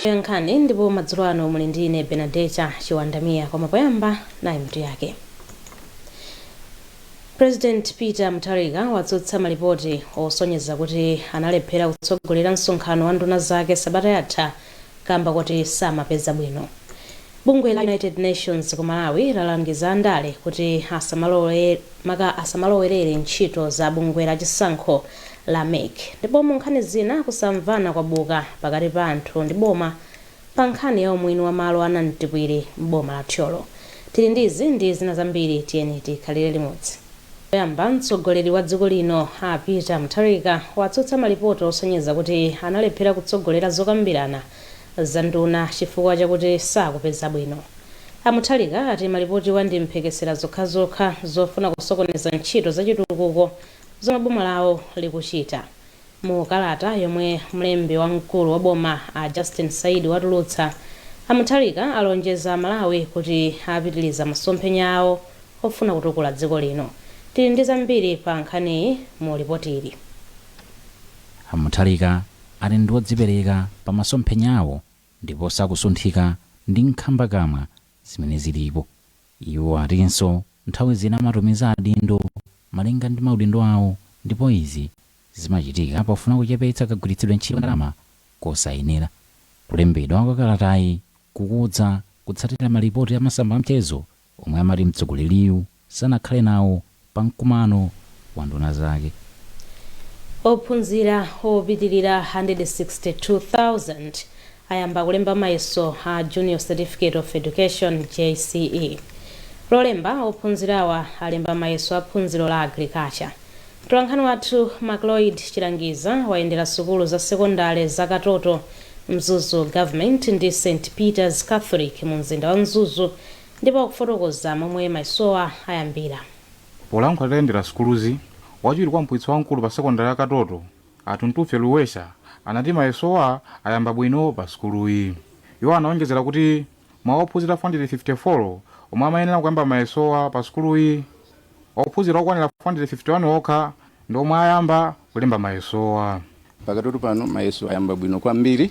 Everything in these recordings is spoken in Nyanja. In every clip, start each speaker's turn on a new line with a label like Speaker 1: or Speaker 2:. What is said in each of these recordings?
Speaker 1: Atolankhani ndipo madzulo ano muli ndi ine Benadeta Chiwandamia koma poyamba nayi mitu yake. President Peter Mutharika watsutsa malipoti osonyeza kuti analephera kutsogolera msonkhano wa nduna zake sabata yatha kamba koti samapeza bwino. Bungwe la United Nations ku Malawi lalangiza andale kuti asamalowerere ntchito za bungwe la chisankho la MEC. Ndipo mu nkhani zina, kusamvana kwabuka pakati pa anthu ndi boma pa nkhani ya umwini wa malo a Namtipwiri m'boma la Thyolo. Tili ndi izi ndi zina zambiri tiyeni tikhalire limodzi. Poyamba, mtsogoleri wa dziko lino a Peter Mutharika watsutsa malipoti osonyeza kuti analephera kutsogolera zokambirana za nduna chifukwa chakuti sakupeza bwino. A Mutharika ati malipotiwa ndi mphekesera zokhazokha zofuna kusokoneza ntchito za chitukuko zomwe boma lawo likuchita. Mu kalata yomwe mlembi wamkulu wa boma a Justin Saidi watulutsa, a Mutharika alonjeza Amalawi kuti apitiliza masomphenya awo ofuna kutukula dziko lino. Tili ndi zambiri pa nkhaniyi mu lipotili. A Mutharika
Speaker 2: ati ndi odzipereka pa masomphenya awo ndipo sakusunthika ndi nkhamba kamwa zimene zilipo. Iwo atinso nthawi zina amatumiza adindo malinga ndi maudindo awo ndipo izi zimachitika pofuna kuchepetsa kagwiritsidwe ntchito ka ndalama kosayenera. Kulembedwa kwa kalatayi kukudza kutsatira malipoti a masamba a mchezo omwe amati mtsogoleriyu sanakhale nawo pa mkumano wa nduna zake.
Speaker 1: Ophunzira opitilira 162,000 ayamba kulemba mayeso a Junior Certificate of Education, JCE. Lolemba, ophunzirawa alemba mayeso a phunziro la Agriculture. Mtolankhani wathu Macloyd Chilangiza wayendera sukulu za sekondale za Katoto, Mzuzu Government ndi St Peters Catholic mu mzinda wa Mzuzu ndipo akufotokoza momwe mayesowa ayambira.
Speaker 3: Polankhula atayendera sukuluzi, wachiwiri kwa mphunzitsi wamkulu pa sekondale ya Katoto, a Tuntufye Luwesha, anati mayesowa ayamba bwino pa sukuluyi. Iwo anaonjezera kuti mwa ophunzira 454 omwe amayenera kuyamba mayesowa pa sukuluyi, ophunzira okwanira 451 okha ndi omwe ayamba. kulemba mayesowa. Pa Katoto
Speaker 4: pano mayeso ayamba bwino kwambiri.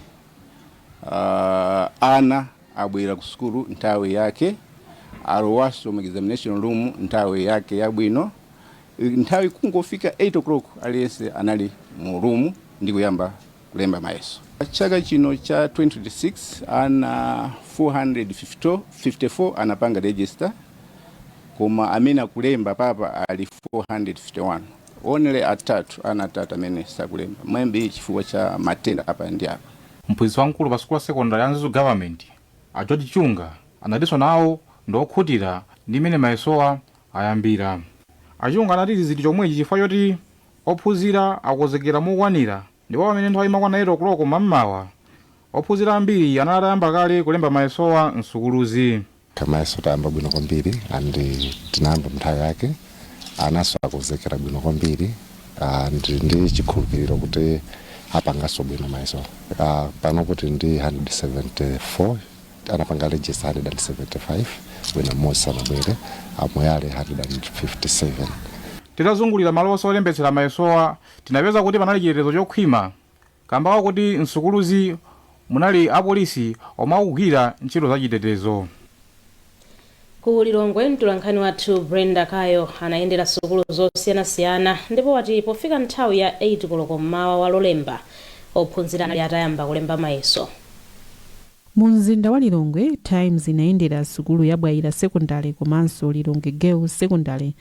Speaker 4: Uh, ana abwera ku sukulu nthawi yake, alowaso mu examination room nthawi yake yabwino. Nthawi kungofika 8 o'clock aliyense anali mu room ndi kuyamba kulemba mayeso. Chaka chino cha 2026 ana 454 anapanga register koma amene akulemba papa ali 451. Only atatu ana atatu amene sakulemba may be chifukwa cha matenda apa ndi apa. Mphunzitsi wamkulu pa
Speaker 3: sukulu ya sekondale ya Mzuzu Government, a George Chunga, anatinso nawo ndi okhutira ndi mmene mayesowa ayambira. A Chunga anati izi zili chomwechi chifukwa choti ophunzira akukonzekera mokwanira ndipo pamene nthawi imakwana 8 o'clock mam'mawa, ophunzira ambiri anali atayamba kale kulemba mayesowa m'sukuluzi. Mayeso
Speaker 5: tayamba bwino kwambiri and tinayamba munthawi yake anaso akonzekera bwino kwambiri and ndi chikhulupiliro kuti apangaso bwino mayesowa, panopo tili ndi 174 anapanga register 175 wina m'modzi sanabwere amoyale
Speaker 3: 157 Titazungulira malo onse olembetsera mayesowa, tinapeza kuti panali chitetezo chokhwima kamba kakuti m'sukuluzi munali apolisi omwe akugwira ntchito za chitetezo.
Speaker 1: Ku Lilongwe, mtolankhani wathu Brenda Kayo anayendera sukulu zosiyanasiyana ndipo wati pofika nthawi ya 8 koloko m'mawa wa Lolemba, ophunzira anali atayamba kulemba mayeso.
Speaker 6: Mu mzinda wa Lilongwe, Times inayendera sukulu ya Bwaila Sekondale komanso Lilongwe Girls Sekondale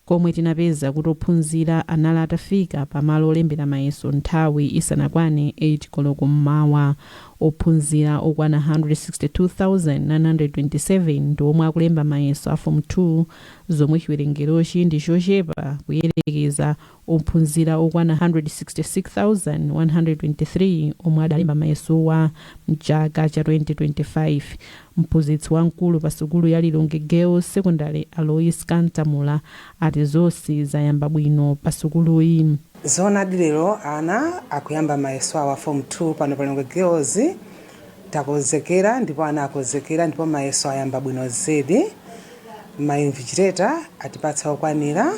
Speaker 6: komwe tinapeza kuti ophunzira anali atafika pa malo olembera mayeso nthawi isanakwane 8 koloko m'mawa. Ophunzira okwana 162,927 ndi omwe akulemba mayeso a Fomu 2, zomwe chiwerengerochi ndi chochepa kuyerekeza ophunzira okwana 166,123 omwe adalemba mayesowa m'chaka cha 2025. Mphunzitsi wamkulu pa sukulu ya Lilongwe Girls Secondary a Lois Kantamula ati zonse zayamba bwino pa sukuluyi. Zoonadi
Speaker 7: lero ana akuyamba mayeso awo a form 2 pano pa Lilongwe Girls. Takozekera ndipo ana akozekera ndipo mayeso ayamba bwino zedi. Ma invigilator atipatsa okwanira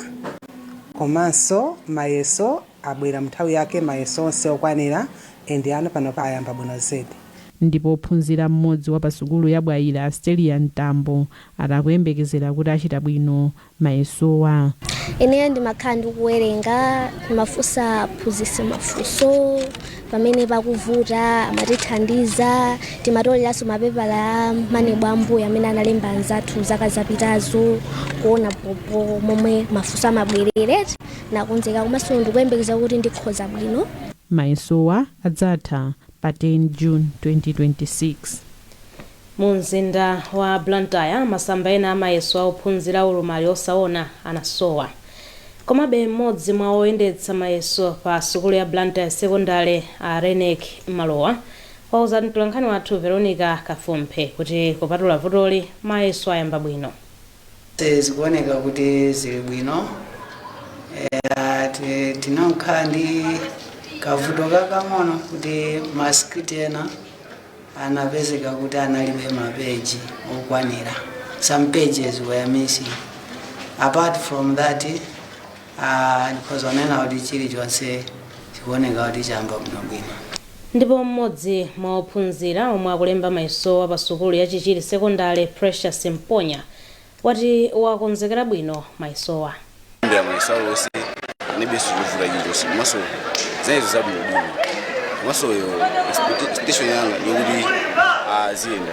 Speaker 7: komanso mayeso abwera mnthawi yake mayeso onse okwanira and ana panopa ayamba bwino zedi. Ndipo
Speaker 6: ophunzira mmodzi wa pa sukulu ya Bwaila a Stellia Mtambo ati akuyembekezera kuti achita bwino mayesowa. Ineyo
Speaker 8: ndimakhala ndikuwerenga, timafunsa aphunzitsi mafunso pamene pakuvuta amatithandiza, timatoleranso mapepala a maneb ambuyo amene analemba anzathu zaka zapitazo kuona bhobho momwe mafunso amabwerera. Ndakonzeka komanso ndikuyembekeza kuti ndikhoza bwino. Mayesowa
Speaker 6: adzatha pa 10 June 2026.
Speaker 1: Mu mzinda wa Blantyre, masamba ena a mayeso a ophunzira a ulumali osaona anasowa. Komabe, m'modzi mwa oyendetsa mayeso pa sukulu ya Blantyre Sekondale, a Reyneck Malowa, wauza mtolankhani wathu Veronica Kafumphe kuti kupatula vutoli, mayeso ayamba bwino.
Speaker 9: zikuoneka kuti zili bwino Eh, ti- tinakhala ndi kavuto kakang'ono kuti masikiripiti ena anapezeka kuti analibe mapeji okwanira some pages were missing apart from that Ah, ndikhoza kunena kuti chilichonse chikuoneka kuti chayamba bwinobwino
Speaker 1: Ndipo mmodzi mwa ophunzira omwe akulemba mayesowa pa sukulu ya Chichiri Sekondale, Precious Mponya, wati wakonzekera bwino mayesowa. Ndayamba
Speaker 10: mayeso awo onse analibenso chovuta chilichonse komanso zinayenda zabwinobwino komanso yo expectation yanga yokuti aziyenda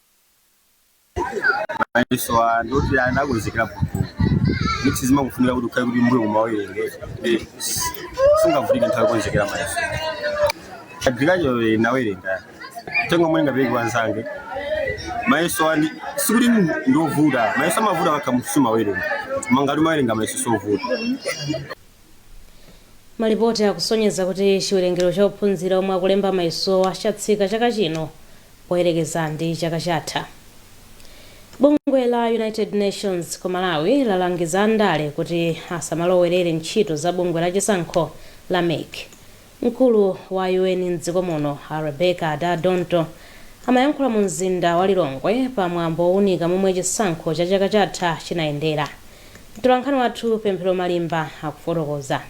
Speaker 11: mayeso ndinakonzekera bho ndiye zimangofunika kuti ukhale kuti mbuyo umawerenga sungavutike nthawi yokonzekera mayeso agriculture ndinawerenga uthenga omwe ndingapereke kwa anzanga mayeso anthu sikuti ndiovuta mayeso amavuta ukakhala sumawerenga koma ngati umawerenga mayeso sovuta
Speaker 1: Malipoti akusonyeza kuti chiwerengero cha ophunzira omwe akulemba mayesowa chatsika chaka chino poyerekeza ndi chaka chatha. Bungwe la United Nations ku Malawi lalangiza andale kuti asamalowerere ntchito za bungwe la chisankho la mec. Mkulu wa UN m'dziko muno a Rebecca Adda-Dontoh amayankhula mu mzinda wa Lilongwe pa mwambo owunika momwe chisankho cha chaka chatha chinayendera. Mtolankhani wathu Pemphero Malimba akufotokoza.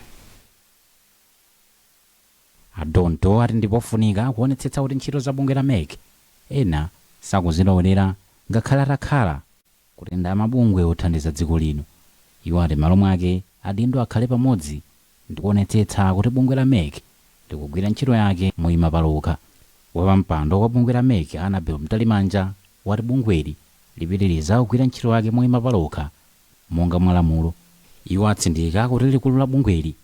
Speaker 2: A Dontoh ati ndipofunika kuonetsetsa kuti ntchito za bungwe la mec ena sakuzilowerera ngakhale atakhala kuti ndi amabungwe othandiza dziko lino. Iwo ati m'malo mwake adindo akhale pamodzi ndikuonetsetsa kuti bungwe la mec likugwira ntchito yake moima palokha. Wapampando wa bungwe la mec a Annabel Mtalimanja wati bungweli lipitiliza kugwira ntchito yake moima palokha monga mwa lamulo. Iwo atsindika kuti likulu la bungweli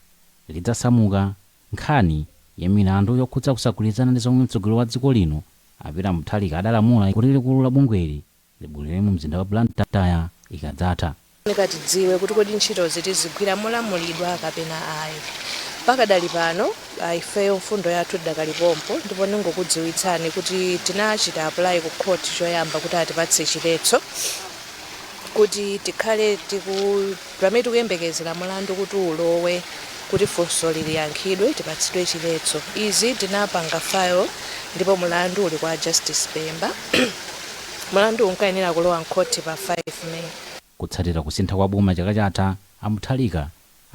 Speaker 2: lidzasamuka nkhani ya milandu yokhudza kusagwirizana ndi zomwe mtsogoleri wa dziko lino a Peter Mutharika adalamula kuti likulu la bungweli Libwerere mu mzinda wa Blantyre ikadzatha. Chofunika
Speaker 12: tidziwe kuti kodi ntchitozi tizigwira molamulidwa kapena ayi. Pakadali pano ifeyo mfundo yathu tidakali pompo ndipo ndingokudziwitsani kuti tinachita apply ku court choyamba kuti atipatse chiletso kuti tikhale tiku. Pamene tikuyembekezera mulandu kuti ulowe kuti funsoli liyankhidwe tipatsidwe chiletso izi tinapanga file ndipo mulandu uli kwa Justice Pemba. Mulanduwu unkayenera kulowa m'khoti pa 5 May. Kutsatira
Speaker 2: kusintha kwa boma chaka chatha, a Mutharika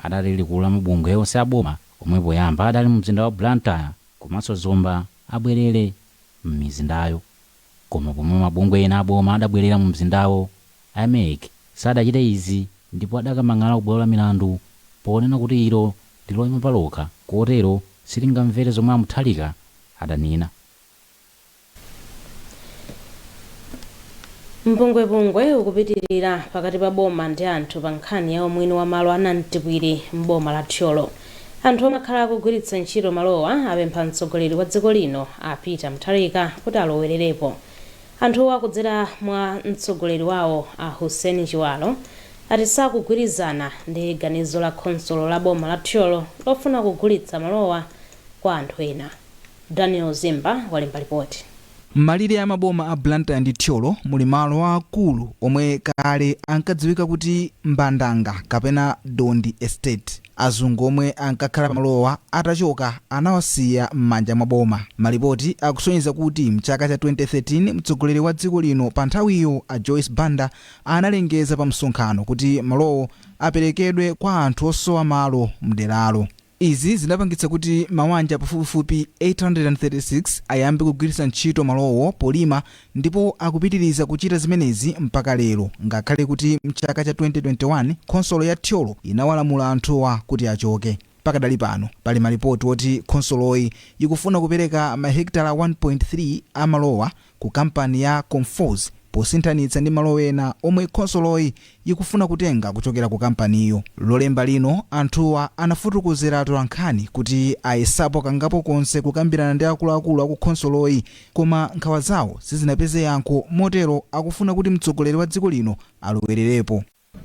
Speaker 2: adati likulu la mabungwe onse a boma omwe poyamba adali mumzinda wa Blantyre komanso Zomba abwerere m'mizindayo. Koma pomwe mabungwe ena a boma adabwerera mumzindawo, a MEC sadachite izi ndipo adakamang'ala kubwalo la milandu ponena kuti ilo ndi loima palokha kotero silingamvere zomwe a Mutharika
Speaker 1: adanena. Mpungwepungwe ukupitirira pakati pa boma ndi anthu pa nkhani ya umwini wa malo a Nantipwiri m'boma la Thyolo. Anthu omwe akhala akugwiritsa ntchito malowa apempha mtsogoleri wa dziko lino a Peter Mutharika kuti alowererepo. Anthuwa kudzera mwa mtsogoleri wawo a Hussein Chiwalo ati sakugwirizana ndi ganizo la khonsolo la boma la Thyolo lofuna kugulitsa malowa kwa anthu ena. Daniel Zimba walemba lipoti. M'malire a
Speaker 13: maboma a Blantyre ndi Thyolo muli malo aakulu omwe kale ankadziwika kuti Mbandanga kapena Dondi Estate. Azungu omwe ankakhala pamalowa atachoka anawasiya m'manja mwa boma. Malipoti akusonyeza kuti m'chaka cha 2013 mtsogoleri wa dziko lino panthawiyo a Joyce Banda analengeza pamsonkhano kuti malowo aperekedwe kwa anthu osowa malo m'deralo. Izi zinapangitsa kuti mawanja pafupifupi 836 ayambe kugwiritsa ntchito malowo polima ndipo akupitiriza kuchita zimenezi mpaka lero ngakhale kuti mchaka cha 2021 khonsolo ya Thyolo inawalamula anthuwa kuti achoke. Pakadali pano pali malipoti oti khonsoloyi yikufuna kupereka mahekitala 1.3 a malowa ku kampani ya Conforzi posinthanitsa ndi malo ena omwe khonsoloyi yikufuna kutenga kuchokera ku kampaniyo. Lolemba lino, anthuwa anafotokozera atolankhani kuti ayesapo kangapo konse kukambirana ndi akuluakulu aku khonsoloyi koma nkhawa zawo sizinapeze yankho motero akufuna kuti mtsogoleri wa dziko lino alowererepo.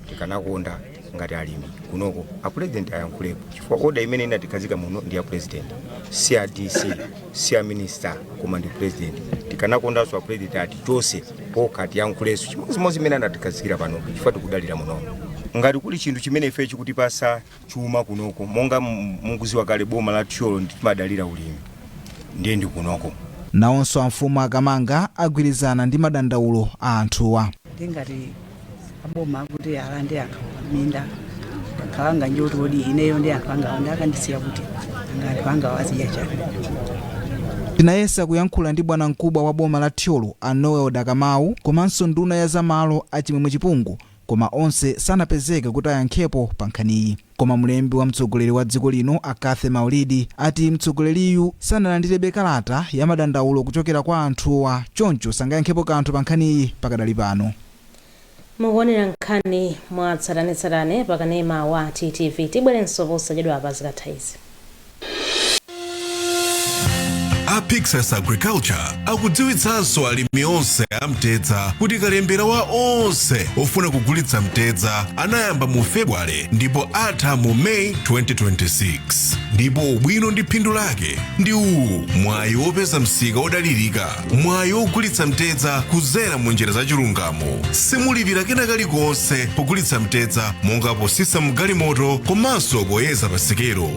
Speaker 11: tikanakonda ngati alimi kunoko apulezidenti ayankhulepo chifukwa oda imene inatikhazika muno ndi ya pulezidenti si a dc si a minista koma ndi pulezidenti tikanakondanso apulezidenti atichotse okha atiyankhulenso chimodzimodzi imene anatikhazikira pano chifukwa tikudalira muno ngati kuli chinthu chimene ife chikutipatsa chuma kunoko monga mukuziwa kale boma la Thyolo ndi timadalira ulimi ndiye ndi kunoko. Nawonso
Speaker 13: amfumu a Kamanga agwirizana ndi madandaulo a anthuwa. ndi ngati
Speaker 14: aboma akuti alande anthu minda akawanga njoti odi ineyo ndi anthu angawa ndi akandisiya kuti anga anthu angawa azidya chani
Speaker 13: Tinayesa kuyankhula ndi bwanamkubwa wa boma la Thyolo a Noel Dakamawu komanso nduna ya zamalo a Chimwemwe Chipungu koma onse sanapezeke kuti ayankhepo pa nkhaniyi. Koma mlembi wa mtsogoleri wa dziko lino a Cathy Maulidi ati mtsogoleriyu sanalandirebe kalata ya madandaulo kuchokera kwa anthuwa choncho sangayankhepo kanthu pa nkhaniyi pakadali pano.
Speaker 1: Mukuonera nkhani mwatsatanetsatane pa kanema wa TTV. Tibwerenso posachedwa apa zikatha izi.
Speaker 15: a pyxus agriculture akudziwitsanso alimi onse a mtedza kuti kalembera wa onse ofuna kugulitsa mtedza anayamba mu february ndipo atha mu may 2026 ndipo ubwino ndi phindu lake ndi uwu mwayi wopeza msika wodalirika mwayi wogulitsa mtedza kudzera mu njira za chilungamo simulipira kena kalikonse pogulitsa mtedza monga potsitsa mgalimoto komanso poyeza pasikelo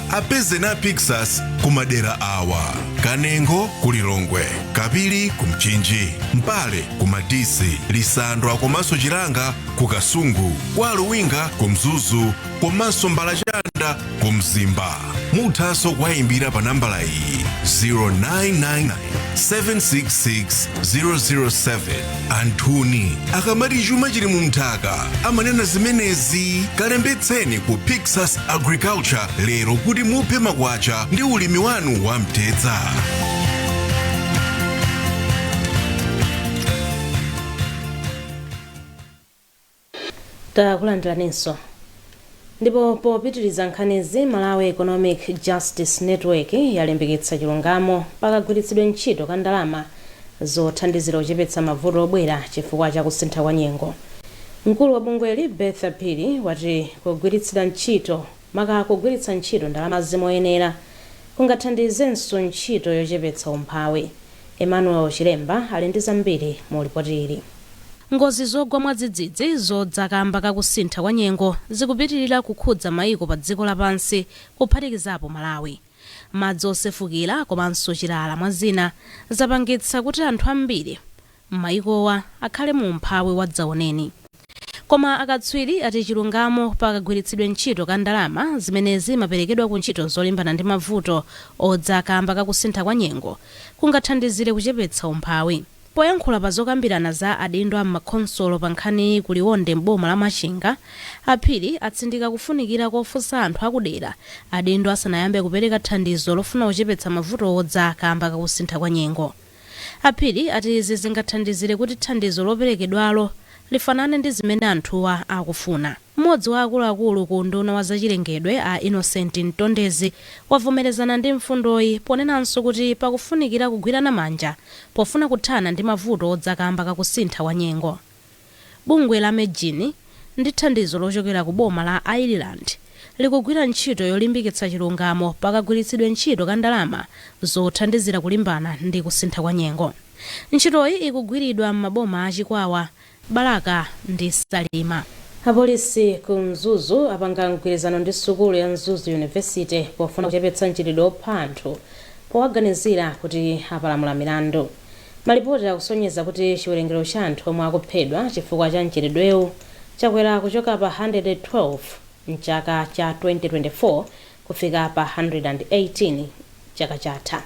Speaker 15: apezeni a pyxus ku madera awa kanengo ku lilongwe kapiri ku mchinji mpale ku madisi lisandwa komanso chilanga ku kasungu kwa luwinga ku mzuzu komanso mbalachanda ku mzimba muthanso kuwayimbira pa nambala iyi 0999 766-007 anthuni akamati chuma chili mu nthaka amanena zimenezi kalembetseni ku pyxus agriculture lero kuti muphe makwacha ndi ulimi wanu wa mtedza
Speaker 1: Takulandiraninso. Ndipo popitiriza nkhanizi, Malawi Economic Justice Network yalimbikitsa chilungamo pa kagwiritsidwe ntchito ka ndalama zothandizira kuchepetsa mavuto obwera chifukwa cha kusintha kwa nyengo. Mkulu wa bungweli, Bertha Phiri, wati kugwiritsira ntchito. Maka kugwiritsa ntchito ndalamazi moyenera kungathandizenso ntchito yochepetsa umphawi. Emmanuel Chilemba ali ndi zambiri mu lipoti ili. Ngozi zogwa mwadzidzidzi zodza kamba ka kusintha kwa nyengo zikupitirira kukhudza maiko pa dziko la pansi kuphatikizapo Malawi. Madzi osefukira komanso chilala mwa zina zapangitsa kuti anthu ambiri. m'mayikowa akhale mu umphawi wadzaoneni. Koma akatswiri ati chilungamo pa kagwiritsidwe ntchito ka ndalama zimene zimaperekedwa ku ntchito zolimbana ndi mavuto odza kaamba ka kusintha kwa nyengo kungathandizire kuchepetsa umphawi. Poyankhula pa zokambirana za adindo a m'makhonsolo pa nkhaniyi ku Liwonde m'boma la Machinga, a Phiri atsindika kufunikira kofunsa anthu a kudera adindo asanayambe kupereka thandizo lofuna kuchepetsa mavuto odza kaamba ka kusintha kwa nyengo. A Phiri ati izi zingathandizire kuti thandizo loperekedwalo lifanane ndi zimene anthuwa akufuna. M'modzi wa akuluakulu ku unduna wa zachilengedwe a Innocent Mtondezi wavomerezana ndi mfundoyi ponenanso kuti pakufunikira kugwirana manja pofuna kuthana ndi mavuto odza kamba kakusintha kwa nyengo. Bungwe la MEJN, ndi thandizo lochokera ku boma la Ireland, likugwira ntchito yolimbikitsa chilungamo pa kagwiritsidwe ntchito ka ndalama zothandizira kulimbana ndi kusintha kwa nyengo. Ntchitoyi ikugwiridwa m'maboma a Chikwawa, Balaka ndi Salima. Apolisi ku Mzuzu apanga mgwirizano ndi sukulu ya Mzuzu University pofuna kuchepetsa mchitidwe opha anthu powaganizira kuti apalamula milandu. Malipoti akusonyeza kuti chiwerengero cha anthu omwe akuphedwa chifukwa cha mchitidwewu chakwera kuchoka pa 112 m'chaka cha 2024 kufika pa 118 chaka chatha.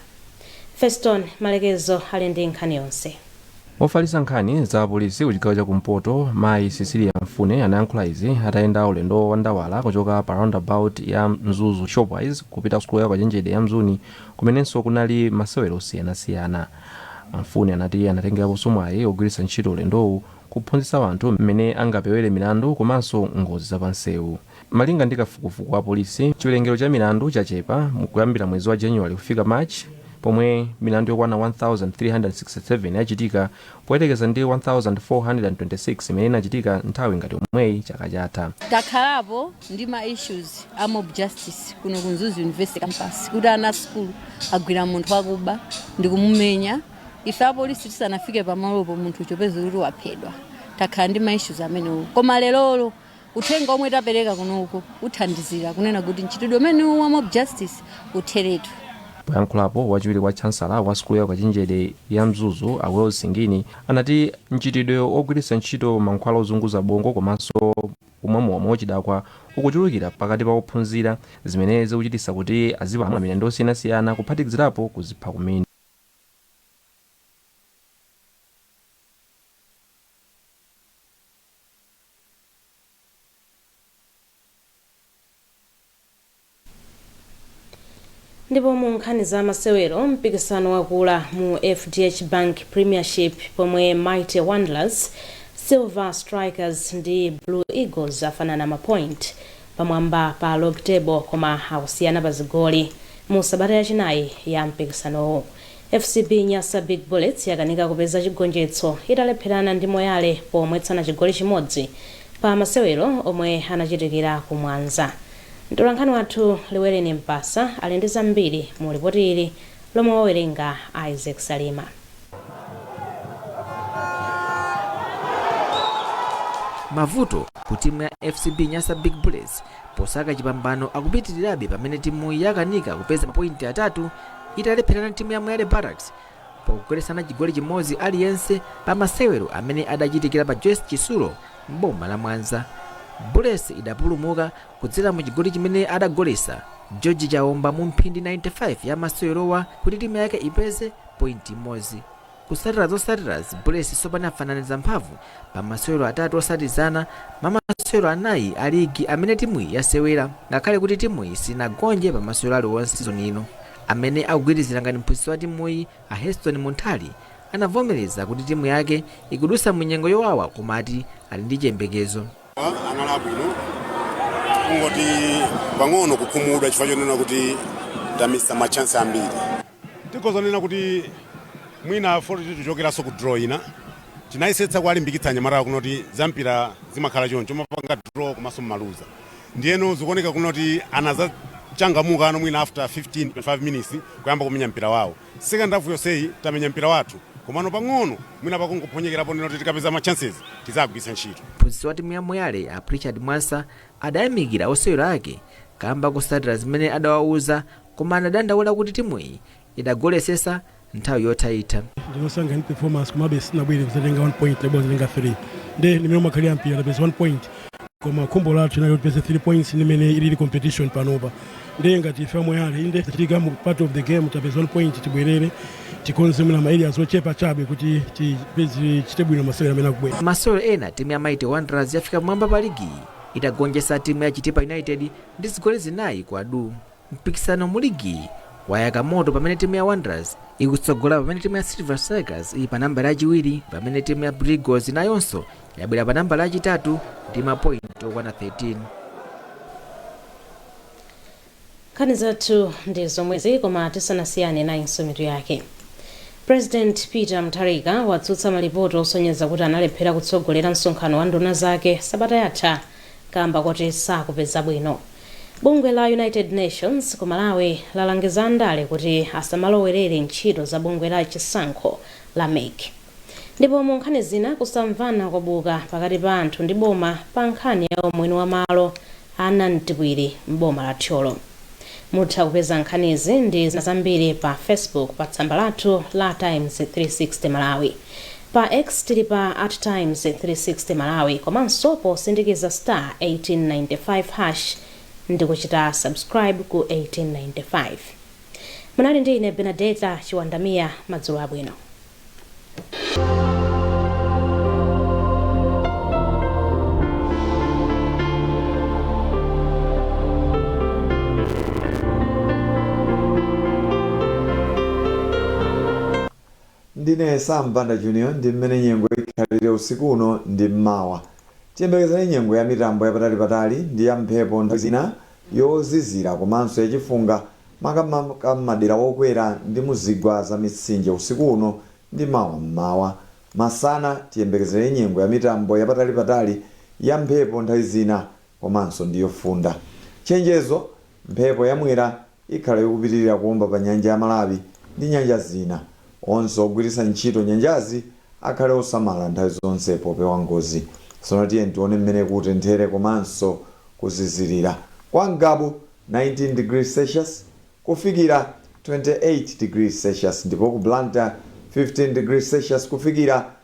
Speaker 1: Feston Malekezo ali ndi nkhani yonse. Ofalitsa
Speaker 16: nkhani za apolisi ku chigawo cha kumpoto mayi Cecilia Mfune anayankhula izi atayenda ulendo wa ndawala kuchoka pa roundabout ya Mzuzu Shoprite kupita ku sukulu ya ukachenjede ya Mzuni Kumenenso kunali masewero osiyanasiyana, a Mfune anati anatengeraponso mwayi wogwiritsa ntchito ulendowu kuphunzitsa anthu mmene angapewere milandu komanso ngozi za pansewu. Malinga ndi kafukufuku wa apolisi, chiwerengero cha milandu chachepa kuyambira mwezi wa January kufika March pomwe milandu yokwana 1,367 yachitika poyerekeza ndi 1,426 imene inachitika nthawi ngati yomweyi chaka chatha. Takhalapo
Speaker 17: ndi ma issues a mob justice kuno ku Mzuzu University campus kuti ana asukulu agwira munthu wakuba ndikumumenya ife apolisi tisanafike pamalopo munthu n'kupeza kuti waphedwa takhala ndi ma issues amenewo koma lerolo Uthenga omwe tapeleka kunoko uthandizira kunena kuti mchitidwe umenewu wa mob justice utheretu.
Speaker 16: Poyankhulapo, wachiwiri kwa chancellor wa sukulu ya ukachenjede ya Mzuzu a Wales Singini anati mchitidwe ogwiritsa ntchito mankhwala ozunguza bongo komanso kumwa mowa mwauchidakwa ukuchulukira pakati pa ophunzira zimene zikuchititsa kuti azipalamula milandu yosiyanasiyana kuphatikizirapo kuzipha kumene.
Speaker 1: Ndipo mu nkhani za masewero, mpikisano wakula mu FDH Bank Premiership pomwe Mighty Wanderers, Silver Strikers ndi Blue Eagles afanana ma point pamwamba pa log table koma akusiyana pa zigoli mu sabata yachinayi ya mpikisanowu. FCB Nyasa Big Bullets yakanika kupeza chigonjetso italepherana ndi Moyale pomwetsana chigoli chimodzi pa masewero omwe anachitikira ku Mwanza. Mtolankhani wathu Llywellenie Mpasa ali ndi zambiri mu lipoti ili lomwe wawerenga Isaac
Speaker 18: Salima. Mavuto ku timu ya FCB Nyasa Big Bullets posaka chipambano akupitirirabe pamene timuyi yakanika kupeza mapointi atatu italepherana ndi timu ya Moyale Barracks pakugoletsana chigoli chimodzi aliyense pa masewero amene adachitikira pa Joyce Chitsulo m'boma la Mwanza. Bullets idapulumuka kudzera mu chigoli chimene adagoletsa George Chaomba mu mphindi 95 ya masewerowa kuti timu yake ipeze pointi imodzi. Kutsatira zotsatirazi Bullets tsopano yafananiza mphamvu pa masewero atatu otsatizana mwa masewero anayi a ligi amene timuyi yasewera ngakhale kuti timuyi sinagonje pa masewero aliwonse season ino. Amene akugwirizira ngati mphunzitsi wa timuyi a Heston Munthali anavomereza kuti timu yake ikudutsa mu nyengo yowawa koma ati ali ndi chiyembekezo.
Speaker 19: anali abwino kungoti pang'ono kukhumudwa chifukwa chonena kuti tamisa machansi ambiri Tikhoza kunena kuti mwina poti tichokeranso ku draw ina. Tinayesetsa kuwalimbikitsa anyamatawa kunena kuti zampira zimakhala choncho, mumapanga draw komanso mumaluza. Ndiyeno zikuoneka kunena kuti anadzachangamukano mwina after 15, 25 minutes kuyamba kumenya mpira wawo. Second half yonseyi tamenya mpira wathu komano pang'ono mwina pakungophonyekerapo kunena kuti tikapeza ma chances tidzagwiritsa ntchito. Mphunzitsi watimu ya
Speaker 18: Moyale, a Pritchard Mwansa, adayamikira osewera ake kaamba kotsatira zimene adawauza koma anadandaula kuti timuyi idagoletsetsa nthawi yothaitha. Ndinasangalala
Speaker 20: ndi performance komabe sitinabwere kudzatenga 1 point tinabwera kudzatenga 3 nde ndi mmene umakhalira mpira tapeza 1 point koma khumbo lathu linali kuti tipeze 3 points ndi mmene ilili competition panopa nde ngati ife a Moyale inde zachitika mu part of the game tapeza 1 point tibwerere tikonze mwina ma areas ochepa chabe kuti tidzachite bwino masewera amene akubwera M'masewero ena timu ya
Speaker 18: Mighty Wanderers yafika pamwamba pa ligiyi itagonjetsa timu ya Chitipa United ndi zigoli zinayi kwa du. Mpikisano mu ligiyi wayaka moto pamene timu ya Wanderers ikutsogola pamene timu ya Silver Strikers ili pa nambala yachiwiri pamene timu ya Blue Eagles nayonso yabwera pa nambala yachitatu ndi mapointi okwana 13.
Speaker 1: nkhani zathu ndi zomwezi koma tisanasiyane nayinso mitu yake president peter mutharika watsutsa malipoti osonyeza kuti analephera kutsogolera msonkhano wa nduna zake sabata yatha kamba koti sakupeza bwino Bungwe la United Nations ku Malawi lalangiza andale kuti asamalowerere ntchito za bungwe la chisankho la MEC. Ndipo mu nkhani zina, kusamvana kwabuka pakati pa anthu ndi boma pa nkhani ya umwini wa malo a Nantipwiri m'boma la Thyolo. Mutha kupeza nkhanizi ndi zina zambiri pa Facebook pa tsamba lathu la Times 360 Malawi. Pa X tili pa at Times 360 Malawi komanso posindikiza star 1895 hash ndikuchita subscribe ku 1895. Munali ndi ine Benadeta Chiwandamia madzulo abwino.
Speaker 4: Ndine Sam Banda Junior ndi mmene nyengo ikhalire usiku uno ndi mmawa. Tiyembekezere nyengo ya mitambo yapatali patali ndi ya mphepo nthawi zina, yozizira komanso ya chifunga makamaka mmadera wokwera ndi mu zigwa za mitsinje usiku uno ndi mawa mmawa. Masana tiyembekezere nyengo ya mitambo yapatali patali, ya mphepo nthawi zina komanso ndi yofunda. Chenjezo! Mphepo ya Mwera ikhala yokupitilira kuomba pa nyanja ya Malawi ndi nyanja zina. Onse ogwiritsa ntchito nyanjazi akhale osamala nthawi zonse popewa ngozi. Tsono tiyeni tione mmene kutenthere komanso kuzizirira. Kwa Ngabu 19 degrees Celsius kufikira 28 degrees Celsius ndipo ku Blantyre 15 degrees Celsius kufikira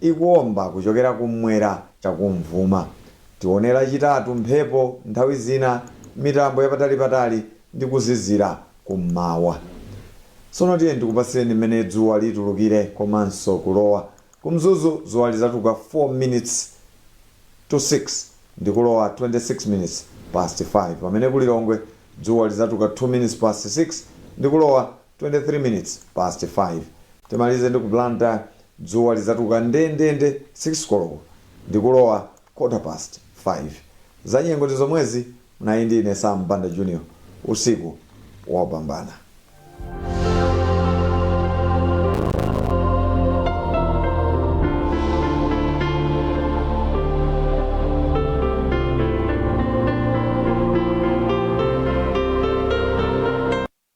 Speaker 4: ikuomba kuchokera kummwera chakumvuma. Tione lachitatu mphepo, nthawi zina mitambo yapatalipatali ndi kuzizira kum'mawa. Tsono tiyeni tikupatsireni m'mene dzuwa litulukire komanso kulowa. Ku Mzuzu dzuwa lidzatuluka 4 minutes to 6 ndi kulowa 26 minutes past 5 pamene ku Lilongwe dzuwa lidzatuluka 2 minutes past 6 ndi kulowa 23 minutes past 5 timalize ndi ku Blantyre dzuwa lidzatuluka ndendende 6 koloko ndikulowa quarter past 5 za nyengo ndi zomwezi munali ndi ine Sam Banda Junior usiku wopambana.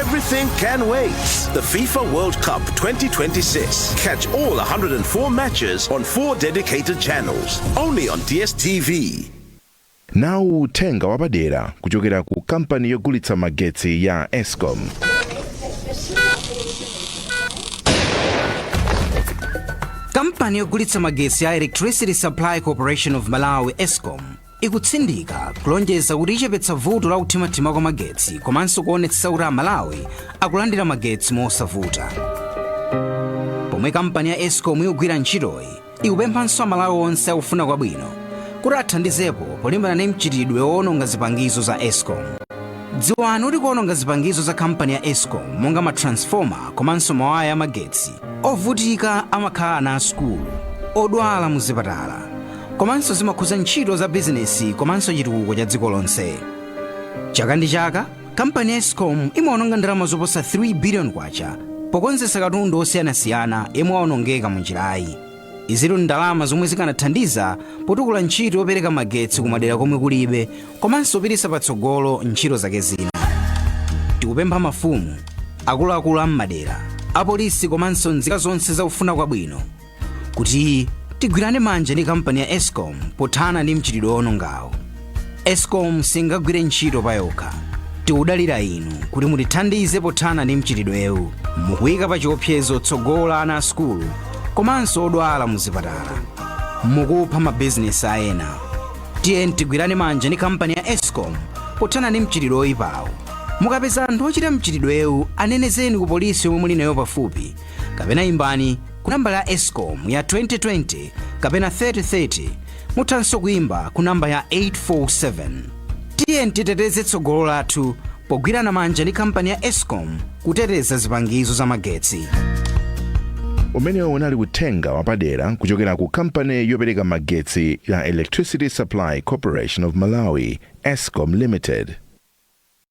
Speaker 21: Everything can wait. The FIFA World Cup 2026. Catch all 104 matches on four dedicated channels. Only on DSTV. nawu
Speaker 22: uthenga wapadera kuchokera ku kampani yogulitsa magetsi ya
Speaker 23: ESCOM kampani yogulitsa magetsi ya Electricity Supply Corporation of Malawi ESCOM ikutsindika kulonjeza kuti ichepetsa vuto la kuthimathima kwa magetsi komanso kuonetsetsa kuti amalawi akulandira magetsi mosavuta pomwe kampani ya escom ikugwira ntchitoyi ikupemphanso amalawi onse akufuna kwabwino kuti athandizepo polimbana ndi mchitidwe woononga zipangizo za escom dziwani kuti kuononga zipangizo za kampani ya escom monga matransfoma komanso mawaya amagetsi ovutika amakhala ana asukulu odwala muzipatala komanso zimakhudza ntchito za bizinesi komanso chitukuko cha dziko lonse chaka ndi chaka kampani ya escom imaononga ndalama zoposa 3 biliyoni kwacha pokonzesa katundu osiyanasiyana yemwe waonongeka mu njirayi izitu ndi ndalama zomwe zikanathandiza potukula ntchito yopereka magetsi kumadera komwe kulibe komanso kupitisa patsogolo ntchito zake zina tikupempha mafumu akuluakulu a m'madera apolisi komanso nzika zonse zakufuna kwabwino kuti tigwirane manja ndi kampani ya escom pothana ndi mchitidwe woonongawu escom singagwire ntchito payokha tikudalira inu kuti mutithandize pothana ndi mchitidwewu mukuyika pa chiopsezo tsogolo la ana a sukulu komanso odwala mu zipatala mukupha mabizinesi a ena tiyeni tigwirane manja ndi kampani ya escom pothana ndi mchitidwe woyipawu mukapeza anthu ochita mchitidwewu anenezeni ku polisi yomwe muli nayo pafupi kapena imbani ku namba ya escom ya 2020 kapena 3030 muthanso kuimba ku namba ya 847 tiyeni titeteze tsogolo lathu pogwirana manja ndi kampani ya escom kuteteza zipangizo za
Speaker 22: magetsi umenewu unali uthenga wapadera kuchokera ku kampani yopereka magetsi ya electricity supply corporation of malawi escom limited